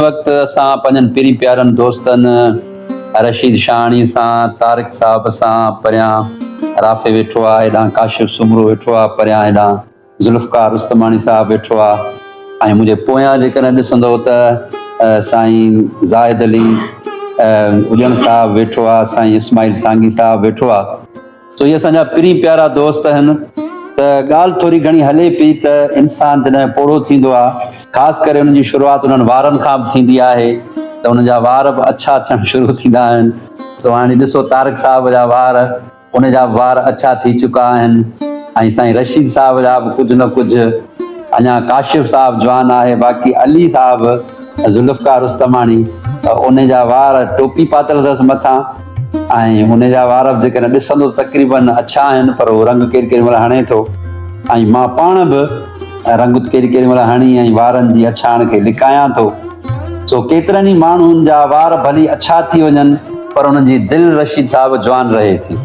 هن وقت اسان پنهنجن پرين پيارن دوستن رشيد شاهاڻي سان، طارق صاحب سان پريان رافي ويٺو آ، هيڏانهن ڪاشف سومرو ويٺو آ، پريان هيڏانهن ذوالفقار رستماڻي صاحب ويٺو آ ۽ منهنجي پويان جيڪڏهن ڏسندؤ ته سائين زاهد علي اڄڻ صاحب ويٺو آ، سائين اسماعيل سانگي صاحب ويٺو آ. سو اهي اسان جا پرين پيارا دوست آهن ته ڳالهه ٿوري گهڻي هلي پئي ته انسان جڏهن پوڙهو ٿيندو آهي خاص ڪري ان جي شروعات انهن وارن کان به ٿيندي آهي ته ان جا وار به اڇا ٿيڻ شروع ٿيندا آهن سو هاڻي ڏسو طارق صاحب جا وار ان جا به وار اڇا ٿي چڪا آهن ۽ سائين رشيد صاحب جا به ڪجهه نه ڪجهه اڃا ڪاشف صاحب جوان آهي باقي علي صاحب ذوالفقار رستماڻي ان جا وار ٽوپي پاتل اٿس مٿان ۽ ان جا وار به جيڪڏهن ڏسندو تقريباً اڇا آهن پر هو رنگ ڪير ڪيڏي مهل هڻي ٿو ۽ مان پاڻ به رنگ ڪيڏي ڪيڏي مهل هڻي ۽ وارن جي اڇاڻ کي لڪايان ٿو سو ڪيترن ئي ماڻهن جا وار ڀلي اڇا ٿي وڃن پر انهن جي دل رشيد صاحب جوان رهي ٿي.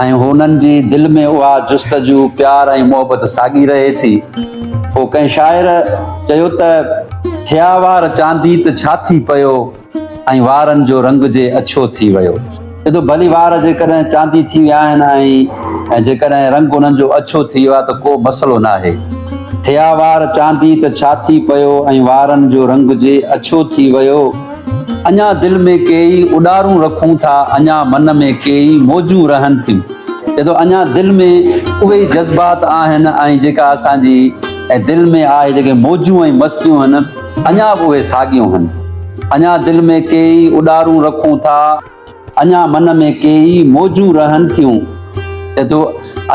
۽ هونئن جي دل ۾ اها جستجو، پيار ۽ محبت ساڳي رهي ٿي. پوء ڪنهن شاعر چيو ته، ٿيا وار چاندي ته ڇا ٿي پيو، ۽ وارن جو رنگ جي اڇو ٿي ويو. ادو ڀلي وار جيڪڏهن چاندي ٿي ويا آهن ۽ جيڪڏهن رنگ انهن جو اڇو ٿي ويو آهي ته ڪو مسئلو ناهي. ٿيا وار چاندي ته ڇا ٿي پيو ۽ وارن جو رنگ جي اڇو ٿي ويو. اڃا دل ۾ ڪيئي اڏارون رکون ٿا، اڃا من ۾ ڪيئي موجون رهن ٿيون. چئي ٿو اڃا دل ۾ اهي ئي جذبات آهن ۽ جيڪا اسان جي دل ۾ آهي جيڪي موجون ۽ مستيون هن اڃا به اهي ساڳيون هن. اڃا دل ۾ ڪيئي اڏارون رکون ٿا. اڃا من ۾ ڪي ئي موجون رهن ٿيون. چئي ٿو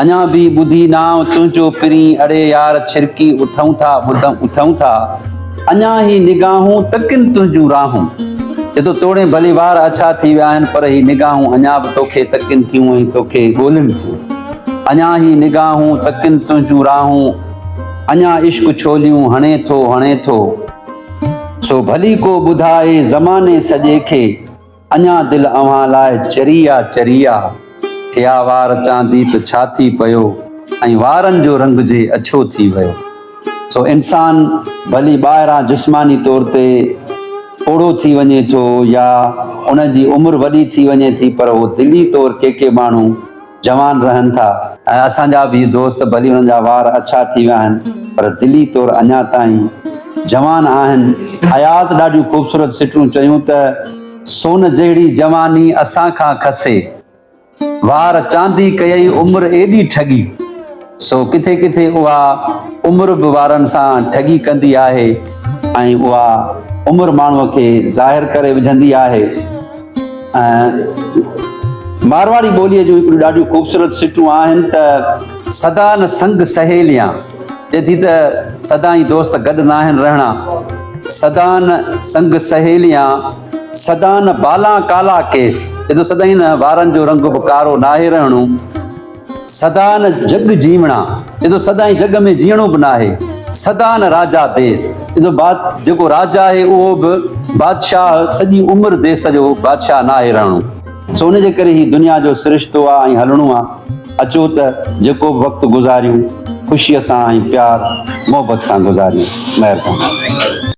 اڃا به ٻڌي نانء تنهنجو پرين اڙي يار ڇرڪي اٿئون ٿا اٿئون ٿا اڃا هي نگاهون ته ڪن تنهنجون راهون چئي ٿو توڙي ڀلي وار اڇا ٿي ويا آهن پر هي نگاهون اڃا به توکي تڪين ٿيون ۽ توکي ڳولين ٿيون اڃا هي نگاهون ته ڪن تنهنجون راهون اڃا عشق ڇوليون هڻي ٿو هڻي ٿو سو ڀلي ڪو ٻڌائي زماني سڄي کي. اڃا دل اوهان لاء چري آ چري آ، ٿيا وار چاندي ته ڇا ٿي پيو ۽ وارن جو رنگ جي اڇو ٿي ويو. سو انسان ڀلي ٻاهران جسماني طور تي پوڙهو ٿي وڃي ٿو يا ان جي عمر وڏي ٿي وڃي ٿي پر هو دلي طور ڪي ڪي ماڻهو، جوان رهن ٿا ۽ اسان جا به دوست ڀلي انهن جا وار اڇا ٿي ويا آهن پر دلي طور اڃا تائين جوان آهن. اياز ڏاڍيون خوبصورت سٽون چيون ته سون جهڙي جواني اسان کان کسي وار چاندي ڪيئي عمر ايڏي ٺڳي. سو ڪٿي ڪٿي اها عمر به وارن سان ٺڳي ڪندي آهي ۽ اها عمر ماڻهو کي ظاهر ڪري وجهندي آهي مارواڙي ٻوليء جون هڪڙيون ڏاڍيون خوبصورت سٽون آهن ته سدا نه سنگ سهيليان چئي ٿي ته سدا ئي دوست گڏ ناهن رهڻا سدا نه سنگ سهيليان سدا نه بالا ڪالا ڪيس چئي ٿو سدائين نه وارن جو رنگ به ڪارو ناهي رهڻو سدا نه جڳ جيوڻا، ايندو سدائين جڳ ۾ جيئڻو به ناهي، سدا نه راجا ديس، ايندو باد جيڪو راجا آهي اهو به بادشاهه سڄي عمر ديس جو بادشاهه ناهي رهڻو. سو ان جي ڪري هي دنيا جو سرشتو آ ۽ هلڻو آ، اچو ته جيڪو به وقت گذاريون خوشيء سان ۽ پيار محبت سان گذاريون. مهرباني.